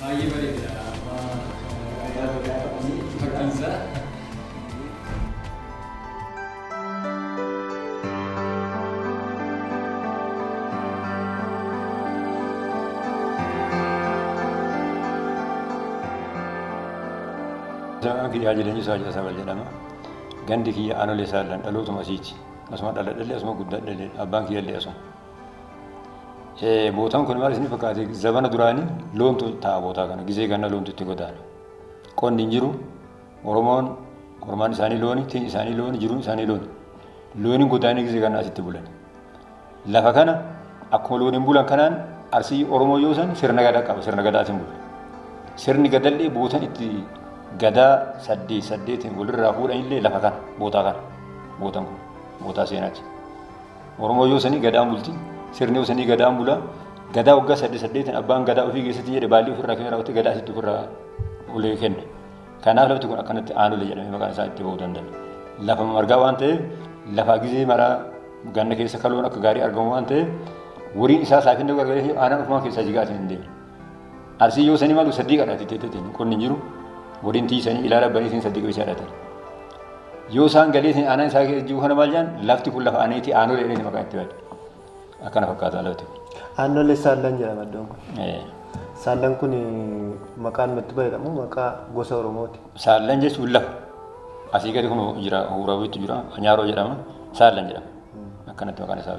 Baay'ee bareeda amma fakkiin isaa. Isaa kiyyaa jireenya isaa jira saba jedhama. Gandi kiyya aanolee isaa illee dhalootuma asiiti. Asuma dhaladhallee asuma guddadhallee abbaan kiyya illee asuma. Bootaan kun maal isin fakkaate zabana duraanii loontu ta'a bootaa kana gizee ganna loontu itti godaana. Qonni hin jiru Oromoon hormaan isaanii looni, tiin isaanii looni, jiruun isaanii looni. Looniin godaanii gizee ganna asitti bulan. Lafa kana akkuma looniin bulan kanaan arsii Oromoo yoo san sirna gadaa qaba sirna gadaatiin bula. Sirni gadallee bootan itti gadaa saddeet saddeetiin walirraa fuudhanillee lafa kana bootaa kana bootan kun bootaa seenaati. Oromoo yoo sanii gadaan bulti. Sirni yoo sanii gadaan bula. Gadaa waggaa saddeet saddeetiin abbaan gadaa ofii keessatti jedhe baallii ofirraa kennee raawwatee gadaa asitti ofirraa ulee kenna. Kanaaf lafti kun akkanatti aanolee jedhamee maqaan isaa itti ba'uu danda'a. Lafa margaa waan ta'eef lafaa gizee maraa ganna keessa kaloon akka gaarii argamu waan ta'eef wariin isaa saafina gargaaree aanaan ofumaan keessaa jigaa asiin hin deemu. Arsii yoo sani malu sadii kadhati tetetin qonni jiru godin tii sani ilala bani sin sadii qisha dhatan. Yoo saan galee sin anan isaa keessa jiru kana maal jaan lafti kun lafa aneeti aanoo dheedhee si maqaa itti bade. Akkana fakkaata lafti kun. Aannolee saallan jedhama iddoon kun. Saallan kun maqaan itti fayyadamu maqaa gosa Oromooti. Saallan jechuun lafa. Asii gadi kun jira huurawiitu jira nyaaroo jedhama saallan jedhama. Akkanatti maqaan isaa.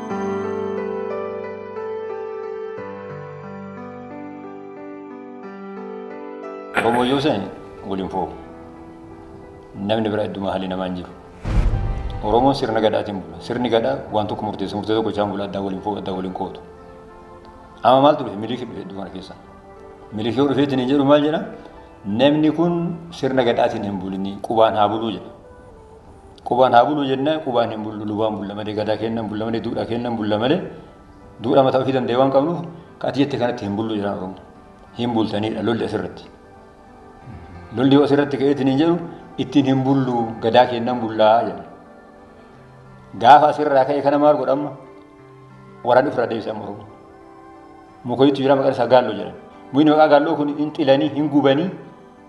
Obbo Jooseen waliin foo namni biraa idduma haalli namaa hin jiru. Oromoon sirna gadhaatiin bula. Sirni gadhaa waan tokko murteessa. Murtee tokko isaan bula addaa waliin foo addaa waliin kootu. Amma maaltu dhufe miliikii dhufe idduma kana keessa. Miliikii yoo dhufeetiin hin jedhu maal jedha? Namni kun sirna gadhaatiin hin bulinii qubaan haa buluu jedha. Qubaan haa buluu jennaan qubaan hin bullu lubaan bulla malee gadaa keenna hin bulla malee duudhaa keenna hin bulla malee duudhaa mataa ofii danda'e waan qabnuuf ka ati jette kanatti hin bullu jedhaan Oromoo. Hin bultaniidha lolli asirratti. Lolli yoo asirratti ka'eetiin hin jedhu ittiin hin bullu gadaa keenna hin bullaa jedha. Gaafa asirraa ka'e kana maal godha amma? Waraanni ofirraa deebisa amma Oromoo. Mukoyiitu jira maqaan isaa gaalloo jedhama. Muyni maqaa gaalloo kun hin xilanii hin gubanii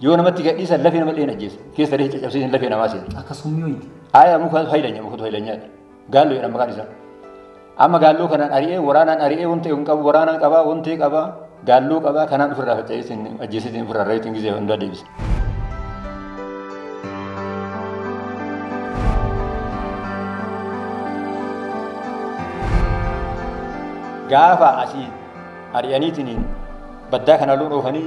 Yoo namatti gadhiisan lafee nama dheen ajjeesa. Keessa dhee caccabsiisan lafee namaa seena. Akka summii wayiiti. Aayaa muka fayyadanya mukatu fayyadanya. Gaalloo jedhama maqaan isaa. Amma gaalloo kanaan ari'ee waraanaan ari'ee wanta hin qabu waraanaan qabaa wanta qabaa gaalloo qabaa kanaan ofirraa faca'eetiin ajjeesitiin ofirraa reetiin gizee hundaa deebisa. Gaafa asii ari'aniitiin baddaa kanaa loon oofanii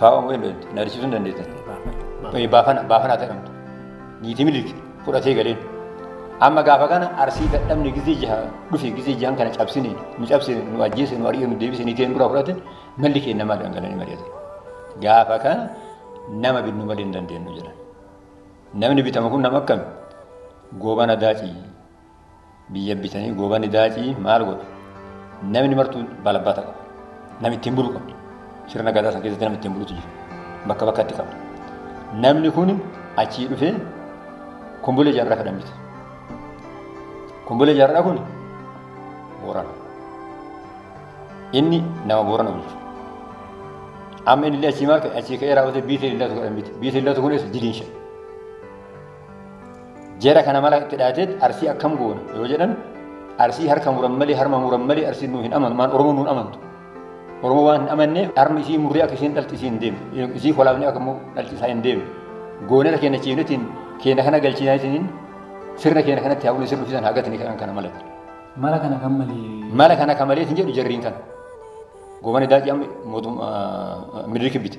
Faawwan wayii hin na argisiisuu hin dandeessan. Baafana baafana ta'amtu. Niitii miliki fudhatee galeen. Amma gaafa kana arsii dadhabne gizee jaha dhufe gizee jahan kana cabsine nu cabsine nu ajjeese nu ari'e nu deebise niitii nu dura fudhate malli keenya maal dhangalanii mari'ate. Gaafa kana nama binnu malee hin dandeenyu jedhan. Namni bitamu kun nama akkami? Goobana daacii Biyya bitanii goobani daacii maal godha? Namni martuu balabbata qaba. Namni ittiin bulu qaba. Sirna gadaa san keessatti namni ittiin bulutu jira. Bakka bakkatti qaba. Namni kun achii dhufee kumbulee jaarraa fedhan bita. Kumbulee jaarraa kun boorana. Inni nama boorana bulchu. Amma inni illee achii maal ka'e achii ka'ee raawwatee biitii illatu godhan bita. Biitii illatu kunis diliin shan. Jara kana mala itti dhaateet arsii akkam goona yoo jedhan arsii harka muran malee harma muran malee arsiin nuu hin amanu maan oromoo nuun amantu oromoo waan hin amanne harmi isii murree akka isheen dhalti isiin deemu isii kolaafne akka immoo dhalti isaa hin deemu goonera keenya ciifnetiin keenya kana galchiinaatiin sirna keenya kanatti hawwina sirna ofiisan haa gatni kan kana malatti. Mala kana kan malee. Mala kana kan malee hin jedhu jarriin kana. Goobana daacii amma mootummaa miniriki bite.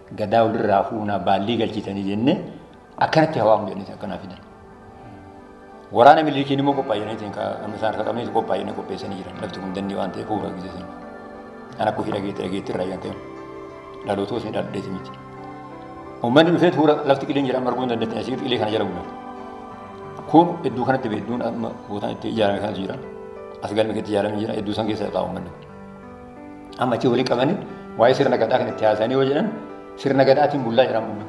Gadaa walirraa fuunaa baallii galchitanii jennee akkanatti hawaamu jedhanii akkanaa fidan. Waraana milikiin immoo qophaa'inaniitiin amma isaan harka qabneetu qophaa'inanii qopheessanii jiran lafti kun dandii waan ta'eef fuula guddisan. Kan akka ofii dhageetti dhageetti irraa yaadame. Dhaloota osoo dhaldheeti miti. Uummanni dhufee fuula lafti qileen jira marguu hin dandeettan asii qilee kana jala bulan. Kun iddoo kanatti beektuun amma gootaan itti ijaarame kanatu jira. As galmi itti ijaarame jira iddoo san keessa taa'u uummanni. Amma achi waliin qabanii waa'ee sirna gadaa kan itti haasa'anii yoo jedhan sirna gadaatiin bullaa jedhan bunna.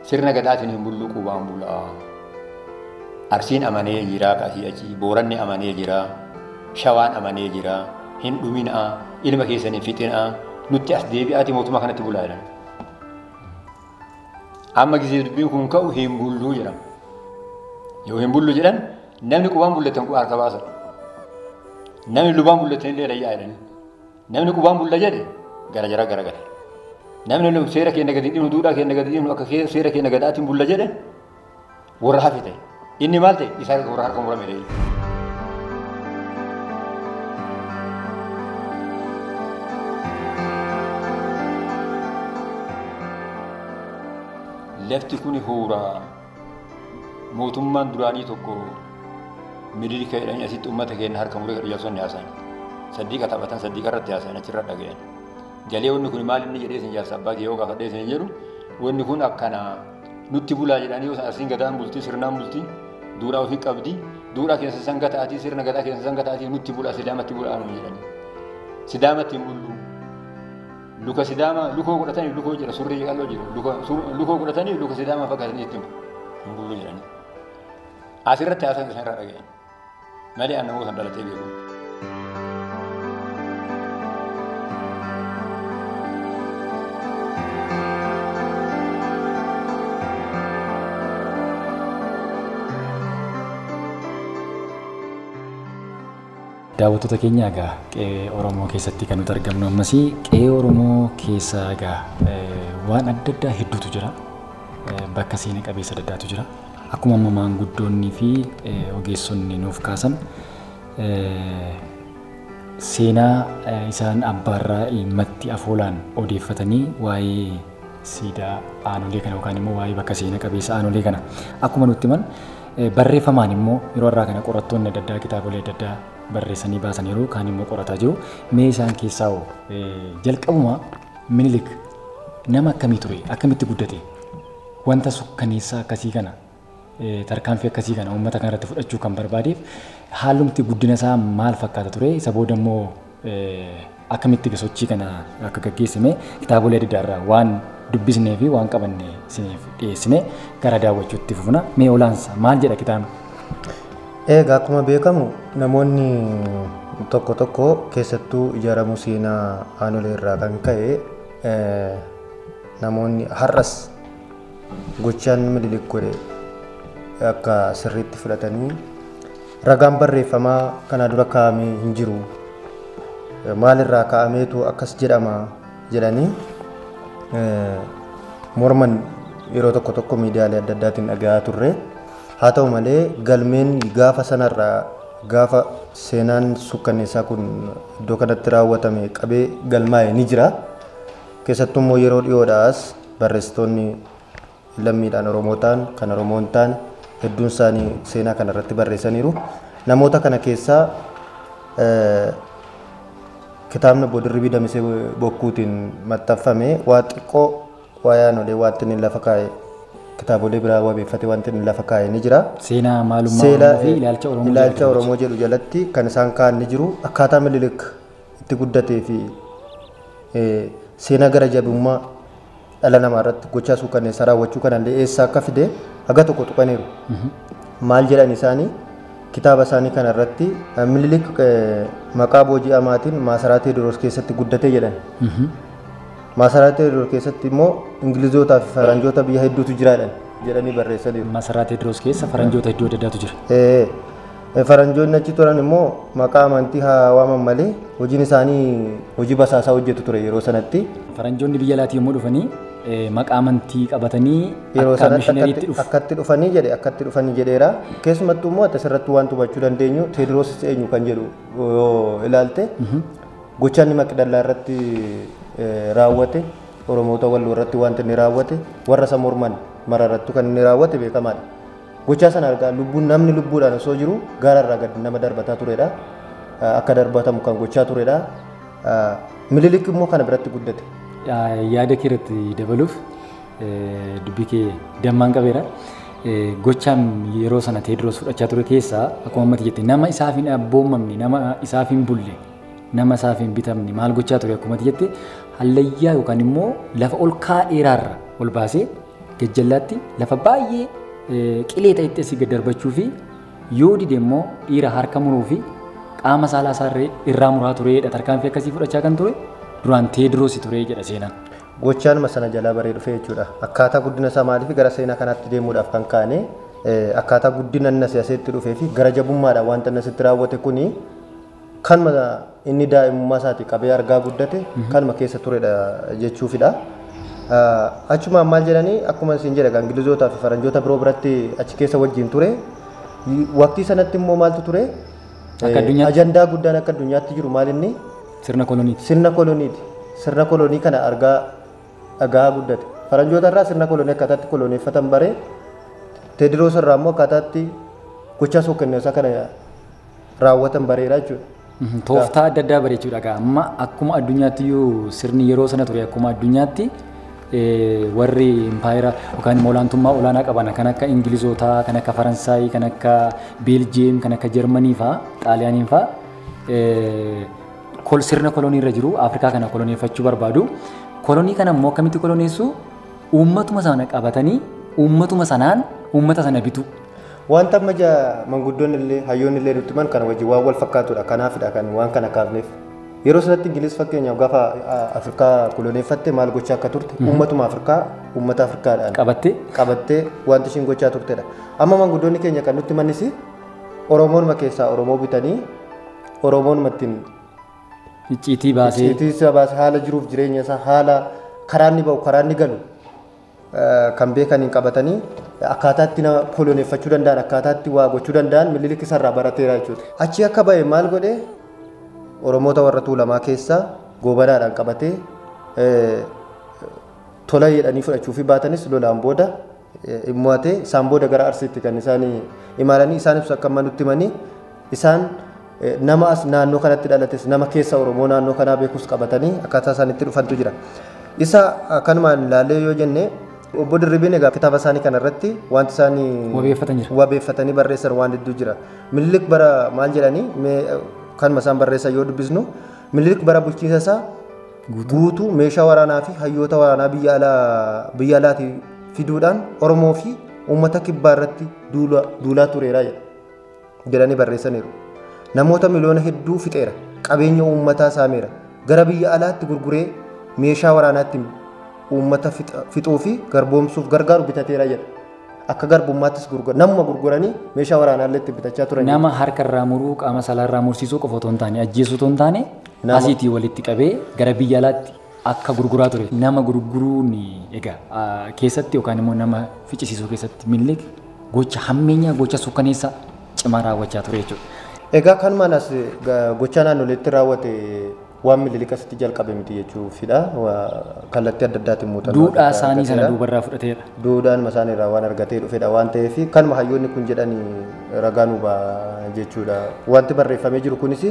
Sirna gadaatiin hin bulluu qubaan bulaa. Arsiin amanee jiraa kasii achi booranni amanee jiraa shawaan amanee jiraa hin dhuminaa ilma keessan hin fixinaa nutti as deebi'aati mootummaa kanatti bulaa jedhan. Amma gisee dubbiin kun ka'u hin bulluu jedhama. Yoo hin bullu jedhan Namni qubaan bullatan kun harka baasa. Namni lubaan bullatan illee rayyaa jedhanii. Namni qubaan bulla jedhe gara jara gara gala. Namni lum seera keenya gadi dhimnu duudhaa keenya gadi dhimnu akka kee- seera keenya gadaatiin bulla jedhe warra hafi ta'e. Inni maal ta'e isaa warra harka murame ta'e. Lafti kun huuraa. Mootummaan duraanii tokko Minilika jedhanii asitti uummata keenya harka muree kan ijaarsonni haasayan. Saddiiqa taphatan saddiiqa irratti haasayan achirra dhagayan. Galee wanni kun maal inni jedhee isin jaarsa abbaa kee yoo gaafadhee isin jedhu wanni kun akkana nutti bulaa jedhanii yoo asiin gadaan bultii sirnaan bultii duudhaa ofii qabdi duudhaa keessa san gataatii sirna gadaa keessa san gataatii nutti bulaa sidaamatti bulaa nu jedhanii sidaamatti hin bulluu Luka sidaamaa lukoo godhatanii lukoo jira surrii qal'oo jira lukoo godhatanii luka sidaamaa fakkaatanii itti hin bullu jedhanii. Asirratti haasaan isaan irraa dhaga'e. Malee aan namoota dhalatee beeku. Daawwattoota keenya egaa qe'ee Oromoo keessatti kan nuti argamnu ammas qe'ee Oromoo keessa egaa waan adda addaa hedduutu jira. Bakka seena qabeessa adda addaatu jira. Akkuma amma maanguddoonnii fi ogeessonni nuuf kaasan seenaa isaan abbaarraa ilmatti afoolaan odeeffatanii waa'ee siidaa aanolee kana yookaan immoo waa'ee bakka seena qabeessa aanolee kana akkuma nutti himan Barreeffamaan immoo yeroo irraa kana qorattoonni adda addaa kitaabolee adda addaa barreessanii baasaniiru kaan immoo qorataa jiru. Mee isaan keessaa hoo jalqabuma minilik nama akkamii ture akkamitti guddate wanta sukkaneessaa akkasii kana tarkaanfii akkasii kana uummata kanarratti fudhachuu kan barbaadeef haalumti guddina isaa maal fakkaata ture isa booda immoo akkamitti egaa sochii kana akka gaggeessine kitaabolee adda addaarraa waan dubbisnee fi waan qabanne isiniif dhiyeessine gara daawwachuutti fufna. Mee olaansa maal jedha kitaabni? Egaa akkuma beekamu namoonni tokko tokko keessattuu ijaaramuu seenaa aanolee irraa kan ka'e namoonni har'as gochaan mililik godhe akka sirriitti fudhatanii Ragaan barreeffamaa kanaa dura kaa'ame hin jiru. Maalirraa kaa'ameetu akkas jedhama jedhanii morman yeroo tokko tokko miidiyaalee adda addaatiin dhaga'aa turre. Haa ta'u malee galmeen gaafa sanarraa gaafa seenaan sukkanneessaa kun iddoo kanatti raawwatame qabee galmaa'e ni jira. Keessattuu immoo yeroo dhiyoodhaas barreessitoonni lammiidhaan Oromoo ta'an, kan Oromoo hin taane hedduun isaanii seenaa kana irratti barreessaniiru. Namoota kana keessaa kitaabni Obbo Dirribii Damisee Bokkuutiin maxxanfame waa xiqqoo waa'ee aanolee waanti inni lafa kaa'e kitaabolee biraa wabeeffatee waanti inni lafa kaa'e ni jira. Seenaa maalummaa Seela Oromoo fi ilaalcha Oromoo ilaalcha jedhama. Oromoo jedhu jalatti kan isaan kaa'an ni jiru. Akkaataa Minilik itti guddatee fi eh, seenaa gara jabummaa dhala namaa irratti gochaa suukanneessaa raawwachuu kanallee eessaa akka fide haga tokko tuqaniiru. Maal jedhan isaanii kitaaba isaanii kana irratti Minilik maqaa booji'amaatiin maasaraa Teediroos keessatti guddate jedhan. Maasaraa Teediroos keessatti immoo Ingilizootaa fi Faranjoota biyya hedduutu jiraadhan jedhanii barreessaniiru. Masaraa Teediroos keessa faranjoota hedduu adda addaatu jira. Ee, Faranjoonni achi turan immoo maqaa amantii haa waaman malee hojiin isaanii hojii basaasaa hojjetu ture yeroo sanatti. Faranjoonni biyya alaatii yommuu dhufanii maqaa amantii qabatanii Yeroo akka sanatti mishinariitti akkatti dhufu. akkatti dhufanii jedhe akkatti dhufanii jedheera. Keessumattuu immoo ati asirratti waan hubachuu dandeenyu Teediroos eenyu kan jedhu yoo ilaalte gochaan inni Maqdallaa irratti eh, raawwate Oromoota Walloo irratti wanti inni raawwate warra isa morman mara irratti kan inni raawwate beekamaadha. Gochaa sana argaa lubbuun namni lubbuudhaan osoo jiru gaara irraa gad nama darbataa turedha. Akka darbatamu kan gochaa turedha. Mililik immoo kana biratti guddate. Yaada kee irratti dabaluuf dubbii kee dammaan qabeera. Gochaan yeroo sana Teediroos fudhachaa ture keessaa akkuma ammatti jette nama isaaf hin abboomamne nama isaaf hin bulle nama isaaf hin bitamne maal gochaa ture akkuma jette hallayyaa yookaan immoo lafa ol ka'aa dheeraarra ol baasee Gajjallaatti lafa baay'ee eh, qilee ta'etti asii gad darbachuu fi yoo dide immoo dhiira harka muruu fi qaama saalaa isaa irree- irraa muraa tureedha. Tarkaanfii akkasii fudhachaa kan ture duraan Teediroos ture jedha seenaan. Gochaanuma sana jalaa baree dhufe jechuudha. Akkaataa guddina isaa maaliif gara seenaa kanaatti deemuudhaaf kan kaane eh, akkaataa guddina inni asii asitti dhufee fi gara jabummaadhaan wanta inni asitti raawwate kuni Kanuma inni daa'imummaa isaatii qabee argaa guddate kanuma keessa turedha jechuufidha. Achumaan maal jedhanii akkuma isin jedha Ingilizootaa fi Faranjoota biroo biratti achi keessa wajjin ture. Waqtii sanatti immoo maaltu ture? Akka addunyaatti? Ajandaa guddaan akka addunyaatti jiru maal inni? Sirna koloniiti. Sirna koloniiti. Sirna kolonii kana argaa dhagaa guddate. Faranjoota irraa sirna kolonii akkaataatti koloneeffatan bare. Teediroos irraa immoo akkaataatti gochaa suukanneessaa kana raawwatan bareera jechuudha. Mhm, Tooftaa adda addaa bareechuudha egaa amma akkuma addunyaatti iyyuu sirni yeroo sana ture akkuma addunyaatti eh, warri impaayera yookaan immoo olaantummaa olaanaa qaban kan akka Ingilizootaa, kan akka Faransaay, kan akka Beeljiyeem, kan akka Jarmanii faa, Xaaliyaaniin faa eh, kol sirna kolonii irra jiru Afrikaa kana koloneeffachuu barbaadu. Kolonii kana immoo akkamitti koloneessu? Uummatuma sana qabatanii uummatuma sanaan uummata sana bituu. Wanta amma ja manguddoonni illee hayyoonni illee nutti himan kana wajjin waan wal fakkaatudha. Kanaafidha kan waan kana kaafneef. Yeroo sanatti Ingiliz fakkeenyaaf gaafa ah, Afrikaa koloneeffatte maal gochaa akka turte uummatuma Afrikaa uummata Afrikaadhaan Qabattee? qabattee wanti ishiin gochaa turtedha. Amma manguddoonni keenya kan nutti himanis Oromoonuma keessaa Oromoo bitanii Oromoonuma ittiin Icciitii baasee. Icciitii isaa baase haala jiruuf jireenya isaa haala karaa inni ba'u karaa inni galu kan beekaniin qabatanii akkaataa itti nama koloneeffachuu danda'an akkaataa itti waa gochuu danda'an Minilik isarraa barateera jechuudha. Achii akka ba'e maal godhe Oromoota warra Tuulamaa keessaa goobanaadhaan qabatee tola jedhanii fudhachuu fi baatanis lolaan booda immoo isaan booda gara Arsiitti kan isaan imalanii isaan ibsu akka amma nutti himanii Isaan nama as naannoo kanatti dhalates nama keessa Oromoo naannoo kanaa beekus qabatanii akkaataa isaan itti dhufantu jira. Isa kanumaan ilaalee yoo jenne obbo Dirribiin egaa kitaaba isaanii kana irratti wanti isaan Wabeeffatan jira. wabeeffatanii barreessan waan hedduu jira. Minilik bara maal jedhanii mee kanuma isaan barreessan yoo dubbisnu minilik bara bulchiinsa isaa guutuu meeshaa waraanaa fi hayyoota waraanaa biyya alaa biyya alaatii fiduudhaan Oromoo fi uummata kibbaa irratti duula- duulaa tureera jedha. jedhanii barreessaniiru. Namoota miliyoona hedduu fixeera, qabeenya uummataa saameera, gara biyya alaatti gurguree meeshaa waraanaatti uummata fixuu fi garboomsuuf gargaaru bitateera jedha. Akka garbummaattis gurgura. Namuma gurguranii meeshaa waraanaallee itti bitachaa turan. Nama harka irraa muruu, qaama saalaa irraa mursiisuu qofa otoo hin taane, ajjeesuu otoo hin taane, Nama- asiitii walitti qabee gara biyya alaatti akka gurguraa ture. Nama gurguruun egaa keessatti yookaan immoo nama ficcisiisuu keessatti Minilik gocha hammeenyaa gocha sukkaneessaa cimaa raawwachaa ture jechuudha. Egaa kanumaan as gochaa naannoleetti raawwate waan Minilik asitti jalqabe miti jechuufidha. Kallattii adda addaatiin muuxannoo. Duudhaa isaanii sana duubarraa fudhateera. Duudhaan isaanii irraa waan argatee dhufedha waan ta'eef kanuma hayyoonni kun jedhan ragaa nuu ba'a jechuudha. Wanti barreeffamee jiru kunis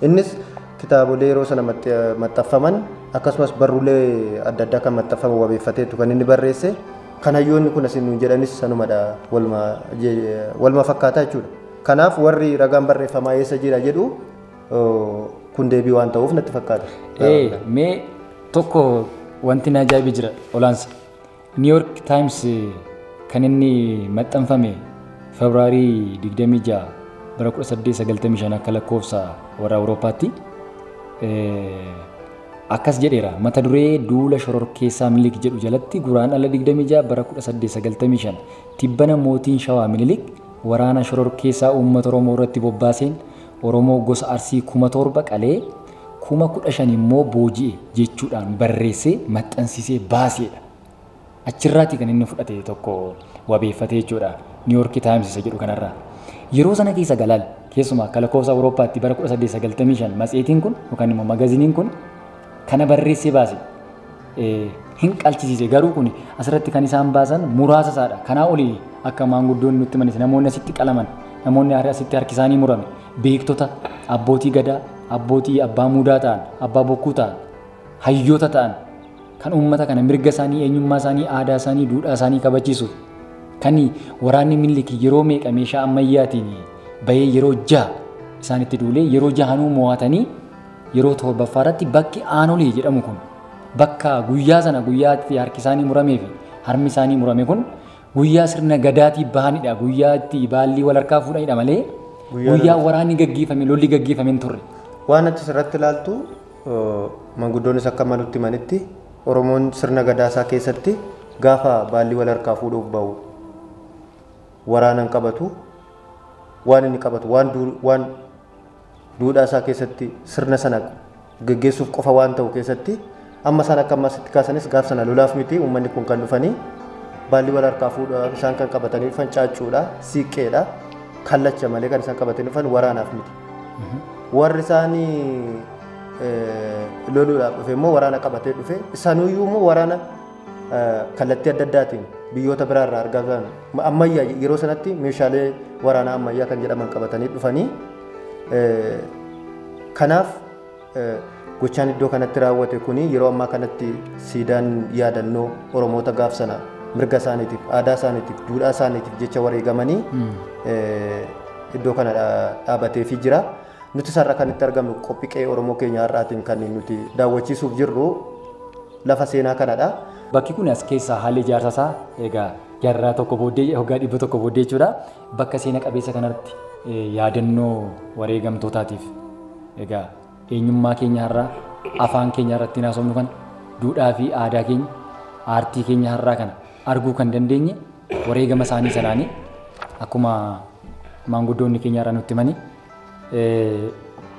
innis Kitaabolee yeroo sana maxxaffaman akkasumas barruulee adda addaa kan maxxaffaman wabeeffateetu kan inni barreesse. Kan hayyoonni kun asiin nuun jedhanis sanumadha waluma fakkaata jechuudha. Kanaaf warri ragaan barreeffamaa eessa jira jedhu kun deebii waan ta'uuf natti fakkaata. Mee tokko wanti na ajaa'ibe jira olaansa. New York Times kan inni maxxanfame February 26 bara 1895 akka lakkoofsa warra Awurooppaatti akkas jedheera mata duree duula shororkeessaa Minilik jedhu jalatti guraan ala 26 bara 1895 tibbana mootiin shawaa Minilik waraana shororkeessaa uummata Oromoo irratti bobbaaseen Oromoo gosa Arsii kuma torba qalee kuma 15 immoo booji'e jechuudhaan barreessee maxxansiisee baaseedha. Achirraatii kan inni fudhate tokko wabeeffatee jechuudha. Niiwoorki Taayims isa jedhu kanarraa. Yeroo sana keessa galaal keessumaa akka lakkoofsa Awurooppaatti bara 1895 matseetiin kun yookaan immoo magaziniin kun kana barreessee baase hin qalchisiise garuu kun asirratti kan isaan baasan muraasa isaadha. Kanaa olii akka maanguddoon nutti manis namoonni asitti qalaman namoonni asitti harki isaanii murame beektota, abbootii gadaa, abbootii abbaa muudaa ta'an, abbaa bokkuu ta'an, hayyoota ta'an kan uummata kana mirga isaanii, eenyummaa isaanii, aadaa isaanii, duudhaa isaanii kabachiisuuf kan waraanni Minilik yeroo meeqa meeshaa ammayyaatiin bahee yeroo jaha isaanitti duulee yeroo jahanuu mo'atanii yeroo torbaffaa irratti bakki aanolee jedhamu kun bakka guyyaa sana guyyaatti harki isaanii muramee fi harmi isaanii murame kun Guyyaa sirna gadaatii bahanidha. Guyyaa itti baallii wal harkaa fuudhanidha malee Guyyaa guyyaa lolaa. waraanni gaggeeffame lolli gaggeeffame hin turre. Waan achi irratti ilaaltu eh, manguddoonnis akka malutti manitti Oromoon sirna gadaa isaa keessatti gaafa baallii wal harkaa fuudhuuf ba'u waraana hin qabatu waan inni qabatu waan duur waan duudhaa isaa keessatti sirna sana geggeessuuf qofa waan ta'u keessatti amma isaan akka ammaa sitti kaasanis gaaf sana lolaaf miti uummanni kun kan dhufanii baalli wal harkaa fuudhaa isaan kan qabatanii dhufan caaccuudha siiqqeedha kallacha malee kan isaan qabatanii dhufan waraanaaf miti. Warri isaanii eh, loluudhaaf dhufe immoo waraana qabatee dhufe isaaniyyuu immoo waraana kallattii adda addaatiin biyyoota biraa irraa argaa turan ammayyaa yeroo sanatti meeshaalee waraanaa ammayyaa kan jedhaman qabatanii dhufanii kanaaf gochaan iddoo kanatti raawwate kuni yeroo ammaa kanatti siidaan yaadannoo oromoota gaaf sana mirga isaaniitiif aadaa isaaniitiif duudhaa isaaniitiif jecha wareegamanii iddoo kana dhaabateefii jira. Nuti sarara kan itti argamnu qophii qe'ee Oromoo keenya har'aatiin kan nuti daawwachiisuuf jirru Lafa seenaa kanadha. Bakki kun as keessaa haalli ijaarsa isaa egaa jarraa tokko booddee hoggaa dhibba tokko booddee jechuudha. Bakka seena qabeessa kanarratti yaadannoo wareegamtootaatiif egaa eenyummaa keenya har'aa afaan keenya irratti haasofnu kana duudhaa fi aadaa keenya aartii keenya har'aa kana arguu kan dandeenye wareegama isaanii sanaanii akkuma maanguddoonni keenya irraa nutti himanii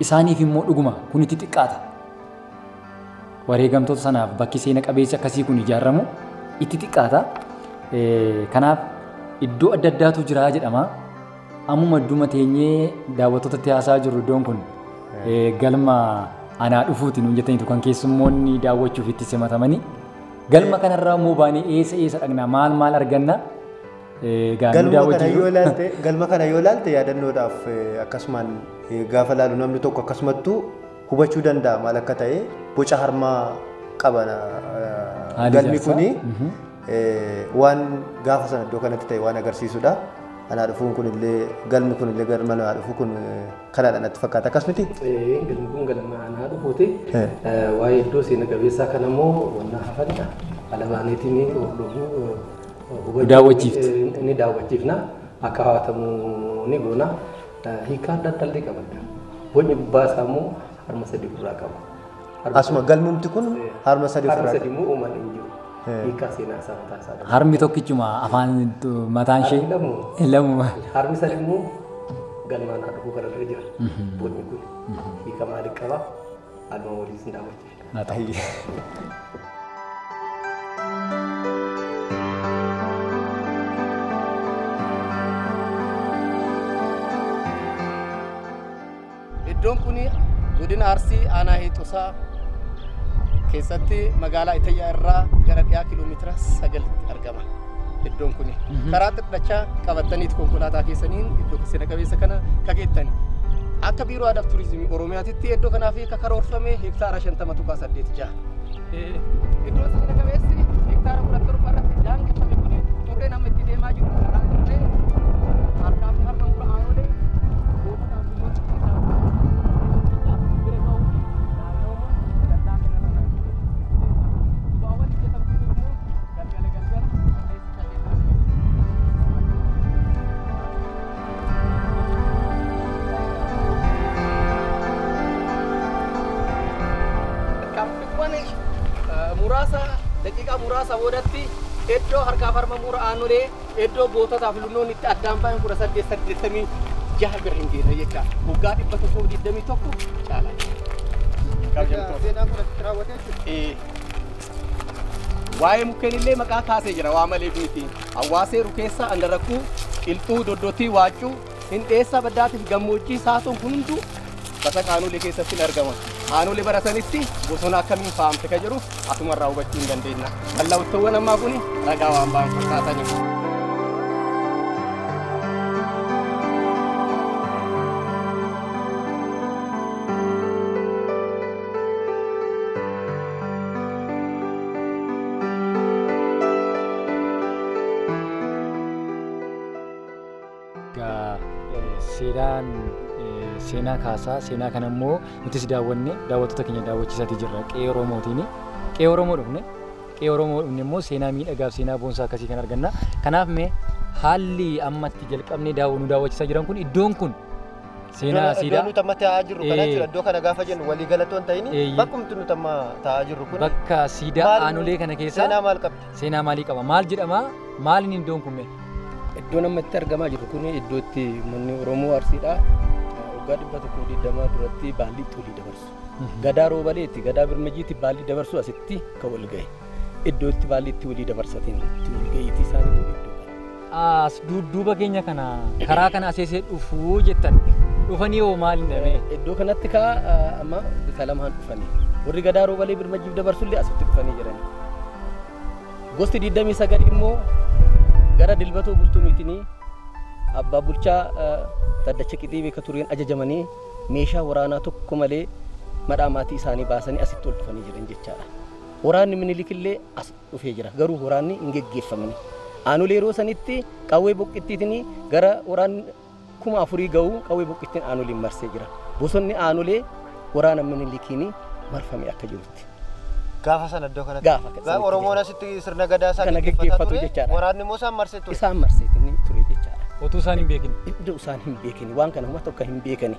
isaaniif immoo dhuguma kun itti xiqqaata. Wareegamtoota sanaaf bakki seena qabeessi akkasii kun ijaaramu itti xiqqaata. Kanaaf iddoo adda addaatu jira jedhama. Ammuma idduma teenyee daawwattootatti haasaa jirru iddoon kun galma anaa dhufuuti nuun jettaniitu kan keessummoonni daawwachuuf itti simatamanii. Galma kanarraa immoo baanee eessa eessa dhaqna maal maal arganna Egaa nu Galma kana daawwachuu yoo ilaalte galma kana yoo ilaalte yaadannoodhaaf eh, akkasumaan eh, gaafa ilaalu namni tokko akkasumattuu hubachuu danda'a maal akka ta'e boca harmaa qaba na- eh, Haala galmi ijaarsaa. kuni Mhm. eh, waan gaafa sana iddoo kanatti ta'e waan agarsiisudha. Anaa dhufuun kunillee galmi kunillee galma anaa dhufu kun eh, kanaadha natti fakkaata akkas miti. Eh, Galmi kun galma anaa dhufuuti. Eh. Eh, Waa'ee iddoo seena qabeessaa kanammoo wanna hafanidha. Alabaaneetiin hordofuu daawwachiifti. Ni daawwachiifna akka hawatamu ni goona. Hiikaa adda addaa illee qabadda. Bocni gubbaa isaa immoo harma sadii ofirraa qaba. Harma Asuma galmumti kun harma sadii harma ofirraa sadii immoo uumaan hin jiru. Hiikaa seenaa isaa mataa isaa qaba. Harmi tokkichuma afaan mataan ishee Harmi lamu. lamuma. Harmi sadii immoo galmaan haa dhufuu kana dura jira. Bocni kun hiika maalii qaba? Haaluma waliin sin daawwachiifna. na ta'a. Iddoon kun godina Arsii aanaa Hiixusaa keessatti magaalaa Itayyaa irraa gara dhiyaa kiiloomeetira 9 argama. iddoon kuni. Karaa xiqqachaa qabattaniiti konkolaataa keessaniin iddoo seena qabeessa kana kageettan. Akka biiroo aadaaf turizimii Oromiyaatitti iddoo kanaaf akka karoorfame hektaara shantama tuqaa saddeet jaha. Iddoo seena qabeessi hektaara kudha torba irratti daangeffame kuni turreen amma itti deemaa jiru karaa turree harkaa fi harma mura aanoolee gootota abbummoota keessaa bira ga'uu fi naannawuma dallaa kanarra naannoo. Bu'aawwan hojjetan kun immoo Tarkaanfiiwwan muraasa daqiiqaa muraasa boodatti iddoo harkaaf harma muura aanolee iddoo goototaa fi lunnoonni itti addaan bahan kudha saddeet saddeettamii jaha bira hin geenye jecha waggaa dhibba tokkoo digdamii tokko caalaa. Seenaan kun asitti raawwatee jechuudha. Waa'ee mukkeenillee maqaa kaasee jira waa maleef miti. Hawwaasee rukeessaa andarakkuu, qilxuu, doddotii, waaccuu, hindheessaa baddaatiif gammoojjii saatoon kun hunduu basaq aanolee keessatti hin argama. Aanolee bara sanitti bosona akkamiin faayamte ka jedhuuf asumarraa hubachuu hin dandeenya. Mallattowwan ammaa kun ragaa waan ba'an fakkaataniif. Seeraan seenaa kaasaa seenaa kana immoo nutis daawwanne daawwattoota keenya daawwachiisaatii jirra qe'ee Oromootiin. Qe'ee Oromoo dhufne qe'ee Oromoo dhufne immoo seenaa miidhagaaf seenaa boonsaa akkasii kan arganna. Kanaaf mee haalli amma itti jalqabnee daawwannu daawwachiisaa jiran kun iddoon kun Seenaa Iddoo asiidhaa nuti amma taa'aa jirru kana Ee. jechuudha. Iddoo kana gaafa jennu walii galatoon ta'in Eeyyee. bakkumti nuti amma taa'aa jirru kun bakka siidaa Maal- aanolee kana seenaa keessaa maal qabdi? seenaa maalii qaba? Maal jedhama? Maaliin iddoon kun mee? Iddoon amma itti argamaa jiru kun iddoo itti manni Oromoo Arsiidha. Waggaa dhibba tokkoo digdamaa duratti baallii itti walii dabarsu. Gadaa Roobaleetti, Gadaa Birmajiitti baallii dabarsu asitti kan wal ga'e. Iddoo itti baallii itti walii dabarsatanii itti wal ga'iitii isaaniitu iddoo kana. As duudduuba keenya kana karaa kana aseesee dhufuu jettan dhufanii hoo maal hin dhabee? Iddoo kanatti kaa amma bifa lamaan dhufanii warri gadaa roobalee birmajjiif dabarsullee asitti dhufanii jiranii. Gosti 29 immoo gara dilbatoo bultumiitinii abbaa bulchaa taddacha qixii beeka tureen ajajamanii meeshaa waraanaa tokko malee madhaa maatii isaanii baasanii asitti ol dhufanii jiran jechaadha. Waraanni minilikillee as dhufee jira. Garuu waraanni hin geggeeffamne. Aanolee yeroo sanitti qawwee boqqittiitiin gara waraanni kuma afurii ga'u qawwee boqqittiin aanoleen marsee jira. Bosonni aanolee waraana Minilikiin marfamee akka jirutti. Gaafa sana iddoo kanatti. Gaafa Ga- sanatti Oromoon ta'e. asitti sirna gadaa isaa Kana gaggeeffataa gaggeeffatu ture. jechaadha. Waraanni immoo isaan marsee ture. Isaan marseetiin ture jechaadha. Otuu isaan hin beekin. Iddoo isaan hin beekani waan kana homa tokko hin beekani.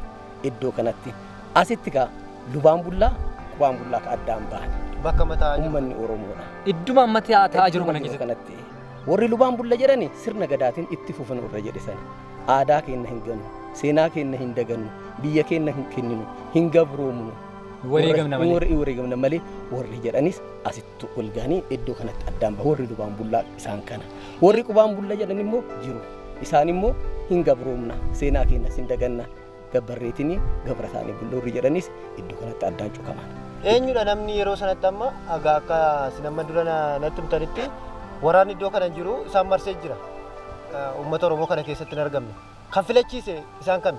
Iddoo kanatti asitti kaa lubaan bullaa qubaan bullaa ka addaan bahan. Bakka amma taa'aa jiru. Uummanni Oromoodha. Idduma amma taa'aa jiru kana keessatti. kanatti warri lubaan bulla jedhani sirna gadaatiin itti fufan warra jedhe sani aadaa keenna hin ganu seenaa keenna hin daganu biyya keenna hin kenninu hin gabroomnu Wareegamna malee. warri wareegamna malee warri jedhanis asitti tu ol gahanii iddoo kanatti addaan bahu warri dubaan bullaa isaan kana warri qubaan bulla jedhan immoo jiru isaan immoo hin gabroomna seenaa keenyas hin daganna gabbarreetinii gabra isaanii bulloorri jedhanis iddoo kanatti addaan cukaman. Eenyudha namni yeroo sanatti amma egaa akka isin amma dura na- natti himtanitti waraanni iddoo kana jiru isaan marsee jira. Eh, Uummata Oromoo kana keessatti hin argamne. kan filachiise isaan kami?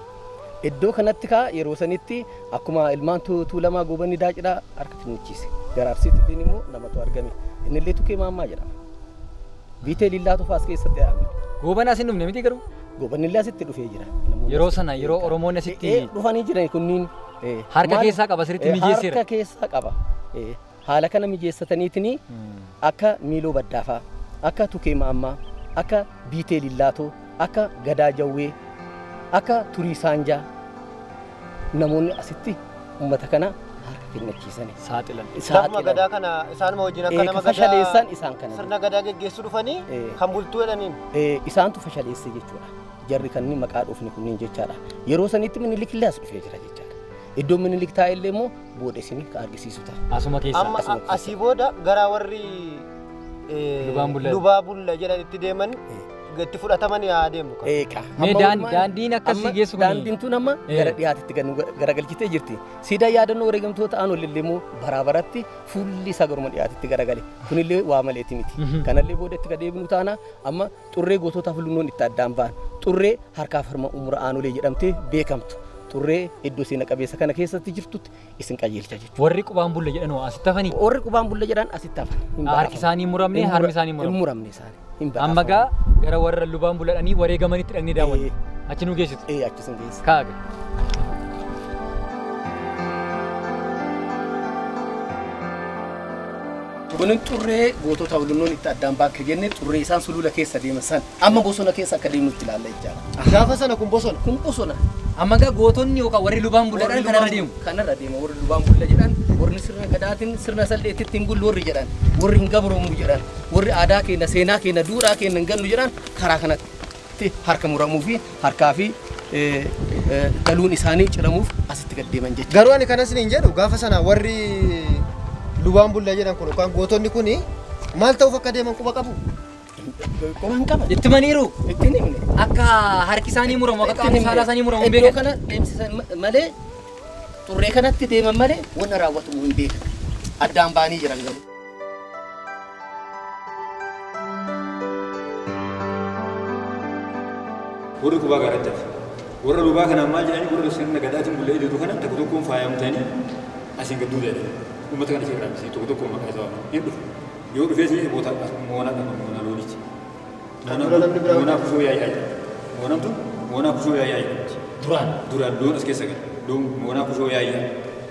Iddoo kanatti kaa yeroo sanitti akkuma ilmaan Tuulamaa Goobanni Daacidhaa harka kennichiise. Gara Arsiitti illeen immoo namatu argame. Inni illee Tukee Maammaa jedhama. Biitee Liillaa Tufaa as keessatti dhaabne. Gooban as hin dhufne miti garuu? Goobanni illee asitti dhufee jira. Namoonni Yeroo asitti sana, yeroo beekan. Oromoonni asitti- Eh, eh, dhufanii jiran kunniin. eh, Harka maal- keessaa qaba, sirriitti eh, mijeesseera. Harka keessaa qaba. eh. Haala kana mijeessataniitinii akka Miiloo Baddaafaa, akka Tukee Maammaa, akka Biitee Lillaatoo, akka Gadaa Jawwee, akka Turii Saanjaa namoonni asitti ummata kana harka kennachiisani. Saaxilan. Saaxilani. Gadaa kana isaanuma wajjin akka nama gadaa fashaleessan isaan kana. Sirna gadaa geggeessu dhufanii kan bultuu jedhaniin. Isaantu fashaleesse jechuudha. Jarri kan maqaa dhufni kunniin jechaadha. Yeroo sanitti Minilik illee as dhufee jira jechaadha. Iddoon Minilik taa'e illee immoo booda isin ka argisiisu ta'a. Asuma keessa. Amma Asuma keessa. asii booda garaa warri eh, Lubaan bulla. lubaa bulla jedhan itti deeman itti fudhataman yaa deemnu kan. Eeqa. Mee Amma daan- walumaan- daandiin akka si amma geessu kuni- Daandiin tun amma Eh. gara dhiyaatitti ganu garagalchitee jirti. Siidaa yaadannoo wareegamtoota aan olillee immoo baraa baratti fuulli isaa garuma dhiyaatitti garagale. Kunillee waa maleeti miti. Mhm. Kanallee booda itti ka deebinu taana amma Xurree gootota Hulunnoon itti addaan ba'an. Xurree harkaaf harma ummura Aanolee jedhamtee beekamtu. Xurree iddoo seena qabeessa kana keessatti jirtutti isin qajeelcha jechuudha. Warri qubaan bulla jedhan hoo asitti hafanii? Warri qubaan bulla jedhan asitti hafan. Hin Harki badhaafaman. isaanii hin muramne, Hin mura- harmi isaanii hin muramne. Hin muramne isaanii. Hin Amma badhaafaman. gaa gara warra lubaan bulladhanii wareegamanitti dhaqnee daawwanne. Achi nu geessitu. Ee achi isin geessa. Kaaga. Tunin xurree gootota olunnoon itti addaan baakke jenne xurree isaan sulula keessa deeman san amma bosona keessa akka deemnutti ilaalla jechaadha. Gaafa sana kun bosona. Kun bosona. Amma gaa gootonni yookaan warri lubaan bulladhaan kanarra deemu. Kanarra deema warri lubaan bulla jedhan warri sirna gadaatiin sirna salleetti ittiin bullu warri jedhan warri hin gabroomu jedhan warri aadaa keenya seenaa keenya duudhaa keenya hin gannu jedhan karaa kanatti. tti harka muramuu fi harkaa fi daluun isaanii ciramuuf asitti gad deeman jechuudha. Garuu ani kanas niin jedhu gaafa sana warri lubaan bulla jedhan kun yookaan gootonni kun maal ta'uuf akka deeman quba qabu? Quba hin qaban. Itti maniiru. Itti hin himne. Akka harki isaanii muramu akka qaamni saalaa isaanii muramu hin Iddoo beekan. kana deemsisan ma- malee xurree kanatti deeman malee wanna raawwatamu hin beekan. Addaan ba'anii jiran garuu. warri qubaa gaaratti hafe warra lubaa kanaan maal jedhanii warra sirna gadaatiin bulla ididu kana tokko tokkoon faayamtanii asiin gadduu jedhanii uummata kana seeraan bisee tokko tokkoon maqaa isaa waaman hin dhufu yoo dhufee seenee bootaa moonaa dhama moonaa loonichi moonaa kusoo yaa'ii ayi moonaan tun moonaa kusoo yaa'ii ayi duraan duraan loon as keessa gala loon moonaa kusoo yaa'ii ayi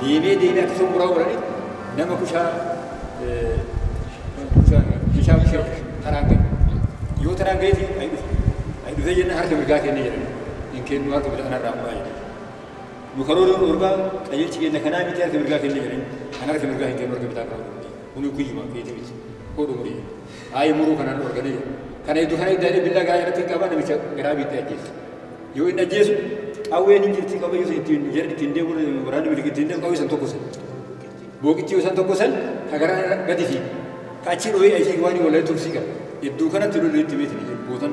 Deemee deemee akka tokko muraa godhanii nama kushaa meeshaa kushee taraan ga'e. Yoo taraan ga'e fi ayi dhufe. Ayi dhufee jenna harka mirgaa kennee jedhan. Hin kennu harka bitaa kanarraa muraa jedhan. Nu karoora nu dhugaa qajeelchi keenya kanaa miti harka mirgaa kennee jedhan. Kan harka mirgaa hin kennu harka bitaa karoora. Kuni guyyuma keetii miti. Koo dhumurii. Ayi muruu kanaan dhorganiiru. Kana iddu kana idda inni billaa garaa irratti hin qaba namicha garaa biittee ajjeessa. Yoo inni ajjeesu qawween hin jirti qabayyuu san ittiin jara ittiin deemu waraanni biligi ittiin deemu qawwee san tokko san. Booqichi yoo san tokko san ka garaa gadi fiigu. Ka achii dhooyee ayi fiigu waan hin wallee tursii qaba. Idduu kanatti lolli itti beetiin bootan.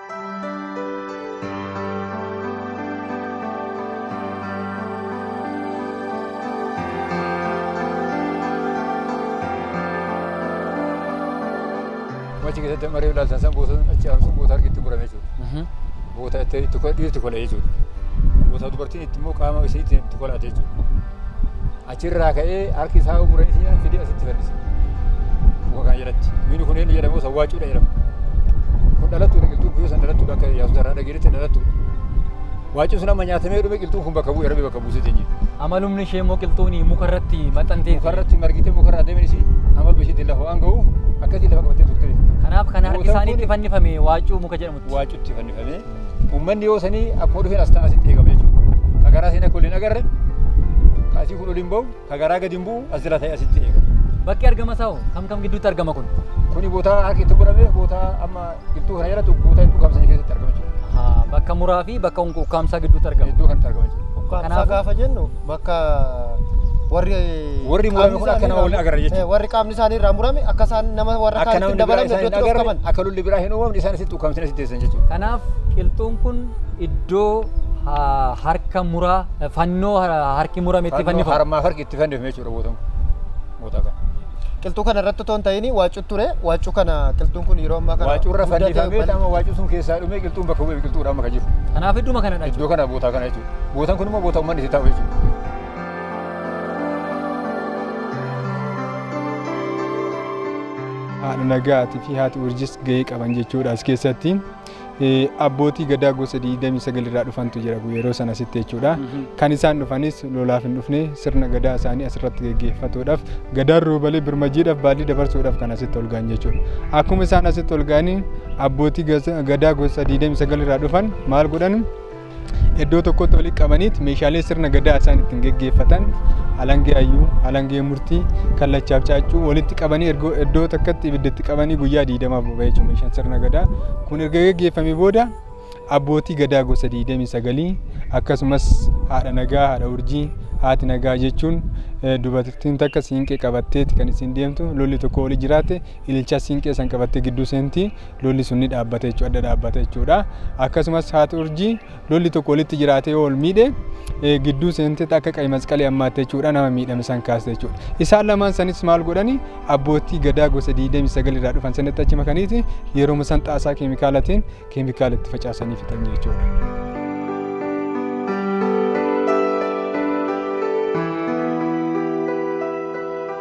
Achi keessatti amma reefu ilaaltan san boota achi aanu sun boota harki itti murame jechuudha. Boota itti itti kola dhiirri itti kola jechuudha. Boota dubartiin itti immoo qaama ishee itti itti kolaate jechuudha. Achirraa ka'ee harki isaa umuree isaa fidee asitti fannise. Muka kana jalatti. Mukni kun inni jedhamu sawwaacuudha jedhama. Kun dhalattuudha qilxuun kun yoo san dhalattuudha akka yaasuus irraa dhageetti dhalattuudha. Waacuun sun amma nyaatamee dhume qilxuun kun bakka bu'e rabbi bakka buusee teenye. Amalumni ishee immoo qilxuuni mukarratti maxxantee Mukarratti margitee mukarra adeemin isii amaluma ishiitiin lafa waan ga'uuf akkasiin lafa qabattee turte. Kanaaf kan harki Mootan isaanii kun- itti fannifame waacuu muka jedhamu waacutti fannifamee uummanni yoo sanii akkuma dhufeen as ta'an asitti eegama jechuudha. Ka garaa seenaa kun hin agarre ka asii kun ol hin ba'u ka garaa gadi hin bu'u as jala ta'e asitti eegama. Bakki argama isaa hoo kam kam gidduutti argama kun? Kuni bootaa harki itti godhame bootaa amma qilxuu kana jalatti bootaa itti ukkaamsanii keessatti argama jechuudha. Ahaa, Bakka muraa fi bakka ukkaamsaa gidduutti argama. Iddoo kanatti argama jechuudha. Ukkaamsaa Kanaafuu- gaafa jennu bakka warri Warri murame kun akka nama waliin agarra jechuudha. warri qaamni isaanii irraa murame akka isaan nama warra akka kaanitti namni biraa dabalamne isaan hin iddootti agarre dhokfaman. akka lolli biraa hin uumamne isaan asitti ukkaamsanii asitti teessan jechuudha. Kanaaf qilxuun kun iddoo ha- harka muraa fannoo ha- harki murame itti Fannoo fannifamu. harmaaf harki itti fannifame jechuudha bootan kun. Bootaa kana. Qilxuu kana irratti otoo hin ta'in waacuu ture waacuu kana qilxuun kun yeroo ammaa kana Waacuu irra guddate, fannifamee bal- amma waacuu sun keessaa dhumee qilxuun bakka bu'ee biqiltuudha amma kan jiru. Kanaaf idduma kanadha Iddoo jechuudha. kana bootaa kana jechuudha. Bootaan kun immoo bootaa uummanni itti taa'u jechuudha. haadha nagaatii fi haati urjis gahee qaban jechuudha as keessatti. abbootii gadaa gosa 29 irraa dhufantu jira yeroo sana asitti jechuudha. Kan isaan dhufanis lolaaf hin dhufne sirna gadaa isaanii asirratti geggeeffatuudhaaf gadaan roobalee birmajiidhaaf baallii dabarsuudhaaf kan asitti ol ga'an jechuudha. Akkuma isaan asitti ol ga'anii abbootii gadaa gosa 29 irraa dhufan maal godhan Iddoo tokkotti walitti qabaniit meeshaalee sirna gadaa isaan ittiin geggeeffatan alangee hayyuu, alangee murtii, kallachaaf caaccuu walitti qabanii erga iddoo takkatti ibidda itti qabanii guyyaa diidamaaf boba'ee jechuudha meeshaan sirna gadaa. Kun erga geggeeffamee booda abbootii gadaa gosa diidamii sagalii akkasumas haadha nagaa, haadha urjii, haati nagaa jechuun eh, dubartiin takka siinqee qabatteeti kan isin deemtu lolli tokko oli jiraate ililchaa siinqee san qabattee gidduu seenti. lolli sun ni dhaabbata jechuudha adda dhaabbata jechuudha akkasumas haati urjii lolli tokko walitti jiraatee yoo ol miidhe eh, gidduu seentee akka qayi masqalee ammaatte jechuudha nama miidhame san kaaste jechuudha isaan lamaan sanis maal godhani abbootii gadaa gosa 29 irraa dhufan sanitti achi makaniiti yeroo san xaasaa keemikaalatiin keemikaala itti facaasanii fixan jechuudha.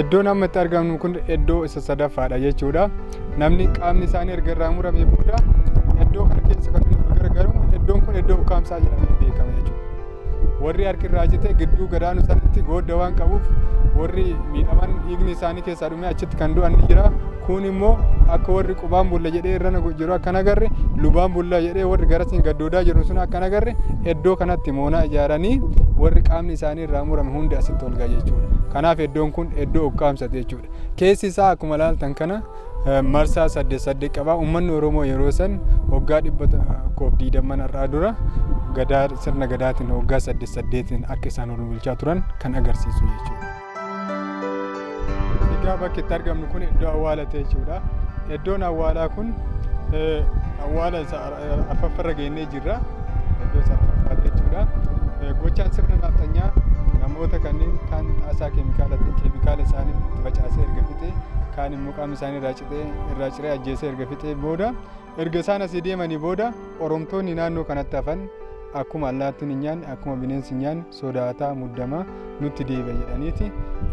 Iddoon amma itti argamnu kun iddoo isa sadaffaadha jechuudha. Namni qaamni isaanii erga irraa muramee booda iddoo kana keessa kan nuti gargaaramu iddoon kun iddoo ukkaamsaa jedhamee beekama jechuudha. Warri harki irraa cite gidduu gadaanu sanatti goodda waan qabuuf warri miidhaman dhiigni isaanii keessaa dhumee achitti kan du'an ni jira. Kun immoo akka warri qubaan bulla jedhee irra jiru akka nagarre lubaan bulla jedhee warri garasiin gaddoodaa jiru sun akka nagarre iddoo kanatti moonaa ijaaranii warri qaamni isaanii Bishaan irraa murame hundi asitti ol ga'a jechuudha. Kanaaf iddoon kun iddoo ukkaamsati jechuudha. Keessi isaa akkuma ilaaltan kana marsaa saddeet saddeet qaba. Uummanni Oromoo yeroo san waggaa dhibba tokkoof diidamman har'aa dura gadaa sirna gadaatiin waggaa saddeet saddeetiin akka isaan ol bulchaa turan kan agarsiisu jechuudha. Egaa bakki itti argamnu kun iddoo awwaala ta'e jechuudha. Iddoon awwaalaa kun awwaala afraffarra geennee jirra. Iddoo isa afraffaa jechuudha. Gochaan sirna naaxxanyaa namoota kanneen kaan xaasaa keemikaalaatiin keemikaala isaanii itti facaasee erga fixee kaan immoo qaama isaanii irraa citee irraa ciree ajjeesee erga fixee booda erga isaan asii deemanii booda oromtoonni naannoo kanatti hafan akkuma allaattiin hin nyaanne akkuma bineensi hin nyaanne sodaataa muddamaa nutti deebi'a jedhaniiti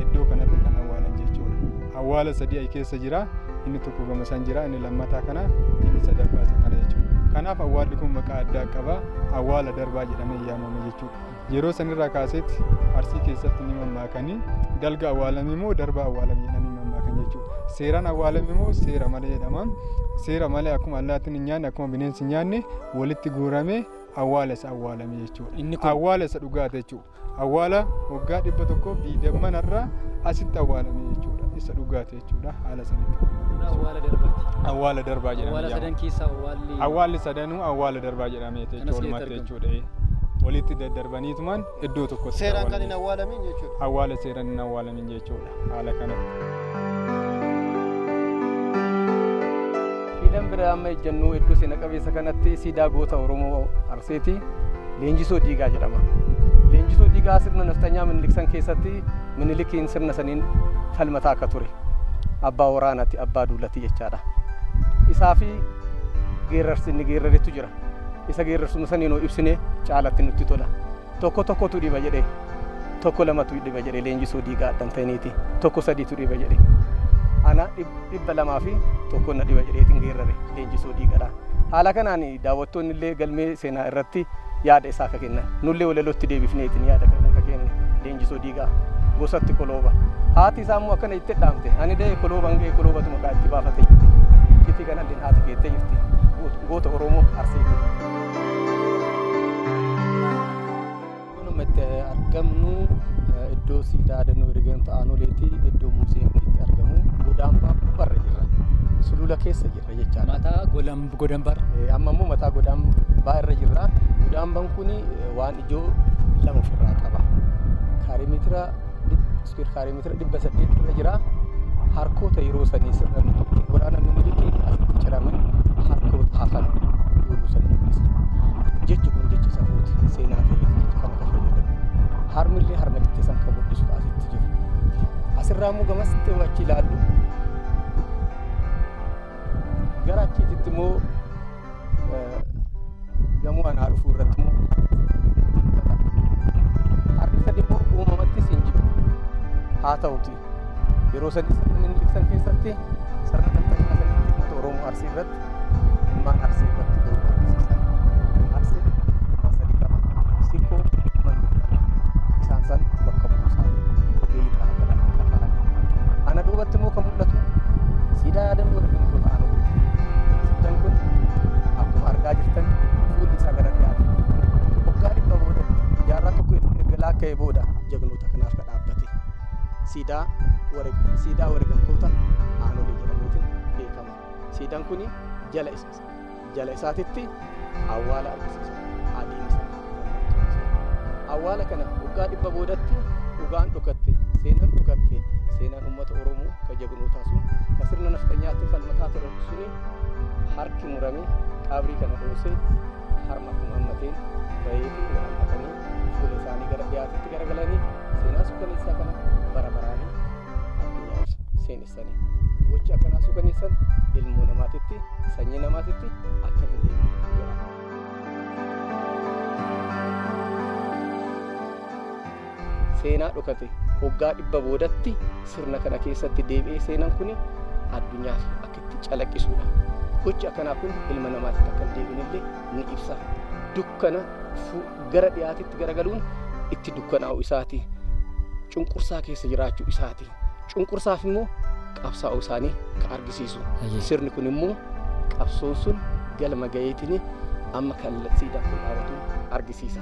iddoo kanatti kan awwaalan jechuudha. Awwaala sadii ayi keessa jira. Inni tokko gama san jira. Inni lammataa kana inni sadaffaa isa kana jechuudha. Kanaaf awwaalli kun maqaa addaa qaba. Awwaala darbaa jedhamee yaamama jechuudha. Yeroo sanirraa kaaseetti arsii keessatti ni mammaakanii dalga awwaalame moo darba awwaalame jedhanii mammaakan jechuudha. Seeraan awwaalame moo seera malee jedhama. Seera malee akkuma allaattiin hin nyaanne akkuma bineensi hin nyaanne walitti guuramee awwaala isa awwaalame jechuudha. Inni kun- Awwaala isa dhugaate jechuudha. Awwaala waggaa dhibba tokkoof diidamman irraa asitti awwaalame jechuudha. Isa dhugaate jechuudha. Haala sanitti. Awwaala darbaati. Awwaala darbaa jedhama. Awwaala sadan keessaa awwaalli. Awwaalli sadanuu awwaala darbaa jedhameeti Kanas jechuudha. keessatti Walumatti argamu. jechuudha. Walitti daddarbaniitumaan iddoo tokkotti Seeraan kan hin awwaalame. awwaalamin jechuudha. awwaala seeraan hin awwaalamin jechuudha haala kanatti. Siidaan bira amma ejjennuu iddoo seena qabeessa kanatti siidaa goota Oromoo Arseeti Leenjisoo Diigaa jedhama. Leenjisoo Diigaa sirna naftanyaa Minilik san keessatti Minilikiin sirna saniin falmataa akka ture. Abbaa waraanaati, abbaa duulati jechaadha. Isaa fi geerarsi inni geeraretu jira. Isa geerrarsuma saniin hoo ibsine caalatti nutti tola. Tokko tokkotu dhiba jedhe. Tokko lamatu dhiba jedhe leenjisuu diigaa addan ta'iniiti. Tokko sadiitu dhiba jedhe. Ana dhibba lamaa fi tokko na dhiba jedheetiin geerrare leenjisuu diigadha. Haala kanaan daawwattoonni illee galmee seenaa irratti yaada isaa akka kennan nullee walalootti deebifneetiin yaada kana akka kenne. Injisoo Diigaa gosatti kolooba. Haati isaa immoo akkana itti dhaamte. Ani da'e kolooban ga'e koloobatu maqaa itti baafate jirti. Itti kanalleen haati keettee jirti. Goota Oromoo Arsee jirti. Kunuma itti argamnu iddoo siidaa dannoo ergamta aanoleeti iddoo muuziyeemni itti argamu godaambaa barra jirra. Sulula keessa jirra jechaadha. Mataa godambar. Amma immoo mataa godambaa irra jirra. Godaambaan kun waan iddoo lama ofirraa qaba. Kaarimeetira iskuweer kaarimeetira dhibba saddeet irra jira. Harkoota yeroo sanii sirna milikiin waraana milikiin asitti ciraman harkoota hafan yeroo sanii mul'isa. Jechi kun jecha safuuti seenaa ta'ee jecha kana kan fayyadamu. Harmillee harma jecha san kan mul'isu asitti jiru. Asirraa immoo gamas ta'u achi ilaallu. Gara achiititti immoo gamoo anaa dhufu irratti immoo harki sadii immoo uumamattis hin jiru haa ta'uti yeroo sadii sirna minilibsan keessatti sirna daldalaa sanitti uummata oromoo arsii irratti ilmaan arsii irratti garuu barsiisan arsii ilmaan sadii qaba sikkoo manni isaan san bakka buusaa ogeeyyii kana kana kana kana ana duubatti immoo kan mul'atu siidaa yaadannoo ergamtoota aanaa Suutan kun akkuma argaa jirtan fuulli isaa gara dhiyaate. Waggaa dhibba booda jaarraa tokko erga laakka'ee booda jagnoota kanaaf kan dhaabbate. Siidaa siidaa wareegamtoota aanolee jedhamuutiin beekama. Siidaan kun jala jala isaatitti Awwaala argisiisa. Adeemsa mallattoo seenaa. Awwaala kana waggaa dhibba boodatti dhugaan dhokatte, seenan dhokatte, seenaan uummata Oromoo ka jagnootaa sun ka sirna nafxanyaatiin falmataa ture suni harki murame qabrii kana dhoose harma kun hammateen bahee fi waraanfatanii fuula isaanii gara dhiyaatitti garagalanii seenaa suukaneessaa kana bara baraanii addunyaa ibsa seenessani gochi akkanaa suukaneessan ilmoo namaatitti sanyii namaatitti akka hin seenaa dhokate waggaa dhibba boodatti sirna kana keessatti deebi'ee seenan kun addunyaaf akka itti calaqqisuudha. Gochi akkanaa kun ilma namaatiif akka hin deebinellee ni ibsa. Dukkana gara dhiyaatitti garagaluun itti dukkanaa'u isaati cunqursaa keessa jiraachuu isaati cunqursaaf immoo qabsaa'uu isaanii ka argisiisu sirni kun immoo qabsoon sun galma gaheetiin amma kallattii dafuu dhaabatu argisiisa.